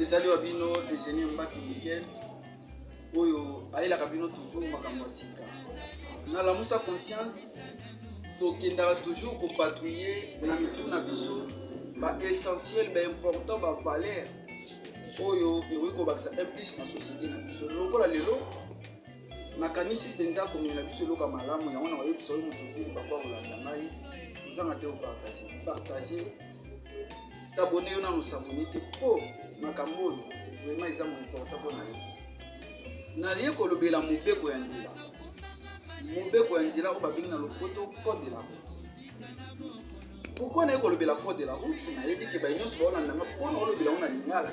ezali wa bino eugenie mbaki mikel oyo ayelaka bino toujours makambo ya sika na lamusa conscience tokendaka toujours kopatrouille na mitu na biso baessentiel baimportant bavaleur oyo ekoki kobakisa implis na société na biso lokola lelo nakanisi mpenza komela biso eloka malamu yango na koyebisa oyo moto ozili bakwa kolanda ngai ozanga te opartage partage sabone yo nanu sabone te mpo makambo oyo vraimen eza moimporta mpo na yo naye kolobela mobeko ya nzela mobeko ya nzela oyo babengi na lopoto code de la route pourkui naye kolobela code de la route nayebi ke baye nyonso baolanda nga mpo na olobela ngo na lingala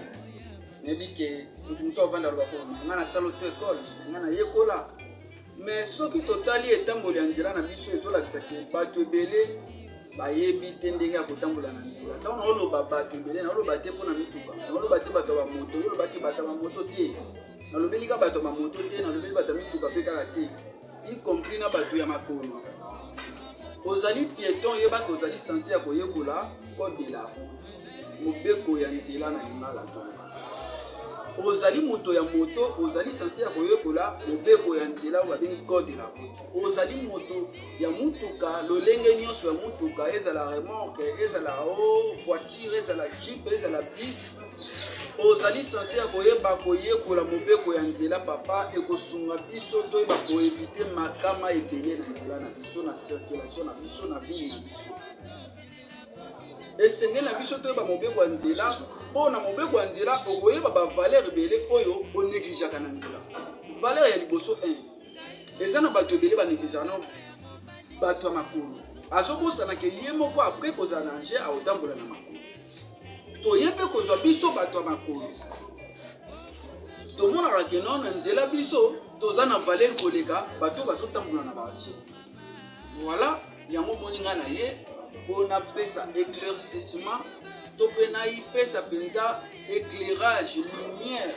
nayebi ke moto mosusu avanda loba ko nga nasala to ekole nga nayekola Mais soki totali etamboli ya nzela na biso ezolakisa ke bato ebele bayebi te ndenge ya kotambola na nzela ntango naoloba bato ebele naoloba te mpo na mituka naoloba te bato ya bamoto yoloba te bato ya bamoto te nalobeli ka bato ya bamoto te nalobeli bato ya mituka mpe kaka te y compris na bato ya makolo ozali pieton yebaka ozali sanse ya koyekola code de la route mobeko ya nzela na lingala ozali moto ya moto ozali sanse ya koyekola mobeko ya nzela oyo babengi code de la route ozali moto ya motuka lolenge nyonso ya motuka ezala remorke ezala o oh, voiture ezala jeep ezala bis ozali sanse ya koyeba koyekola mobeko ya nzela papa ekosunga biso toyeba koevite makama ebele na nzela na biso na circulation na biso na bini na biso esengeli na biso toyeba mobeko ya nzela mpo na mobeko ya nzela okoyeba bavaleur ebele oyo onegligeaka na nzela valeur ya liboso 1 eza na bato ebele banegligeaka no bato ya makolo azobosanaka ye moko apres kozala na nje akotambola na makolo toye mpe kozwa biso bato ya makolo tomonaka keno na nzela biso toza na valeur koleka bato bazotambola na batie Voilà, yango moni nga na ye mpo napesa éclaircissement to mpe naipesa mpenza éclairage lumière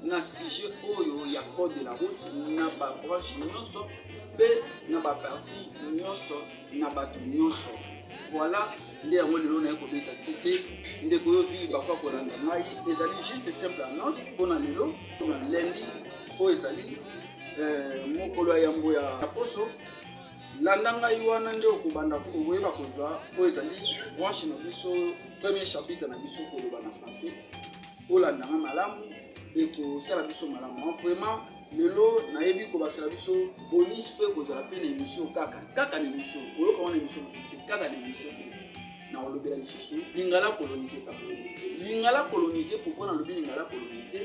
na sujet oyo ya code de la route na babranche nyonso mpe na baparti nyonso na bato nyonso voilà nde yango lelo naye kobeta site ndeko yo vili bakwa kolanda ngai ezali juste simple annonce mpo na lelo na lendi oyo ezali eh, mokolo ya yambo ya poso landa ngai wana nde okobanda koyeba kozwa oyo ezali branche na biso premier chapitre na biso koloba na français olanda ngai malamu ekosala biso malamu ah, vraiment lelo nayebi kobakisela biso bonisi mpe kozala mpe na emission kaka kaka na emission oyoka wana emission mosusu te kaka na emission te nakolobela lisusu lingala kolonise papa lingala kolonise pourkoi nalobi lingala kolonise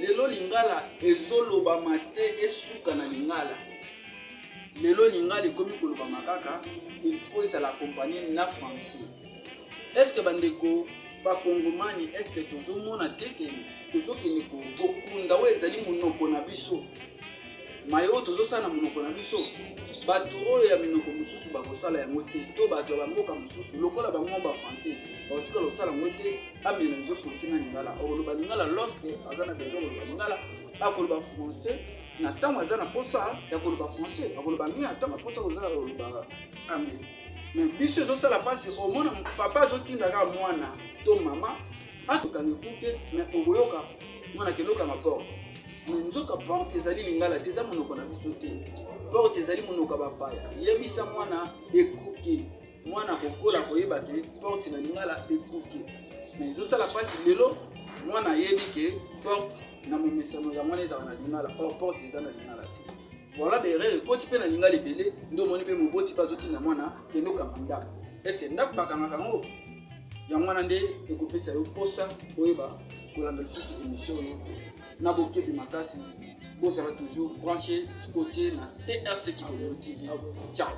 lelo lingala ezolobama te esuka na lingala lelo lingala ekomi kolobama kaka ilfaut ezala accompagne na français estce bandeko bakongomani estce tozomona te ke tozokende kokunda oyo ezali monoko na biso maye oyo tozosala na monoko na biso bato oyo ya minoko mosusu bakosala yango te to bato ya bamboka mosusu lokola bango bafrançais bakotikala kosala yango te amela biso français na lingala okoloba lingala lorsque aza na besoin koloba lingala akoloba français na ntango aza na mposa ya koloba français akoloba nini na ntango aposa kozala koloba anglais mais biso ezosala mpasi omona papa azotinda kaka mwana to mama batokangi ekuke me okoyoka mwana keloka na porte me nzoka porte ezali lingala te eza monoko na biso te porte ezali monoko ya bapaya yebisa mwana ekuke mwana kokola koyeba te porte na lingala ekuke me ezosala mpasi lelo mwana ayebi ke porte na momesano ya mwana ezala na lingala or porte eza na lingala te voilà berere ekoti mpe na lingala ebele nde omoni mpe moboti mpe azotinda mwana kendo kanga ndako estce ndako bakangaka yango yango wana nde ekopesa yo mposa oyeba kolanda lisusu émission oyo na bokebi makasi bozala toujours branché scotché na trc kikolo tv ciao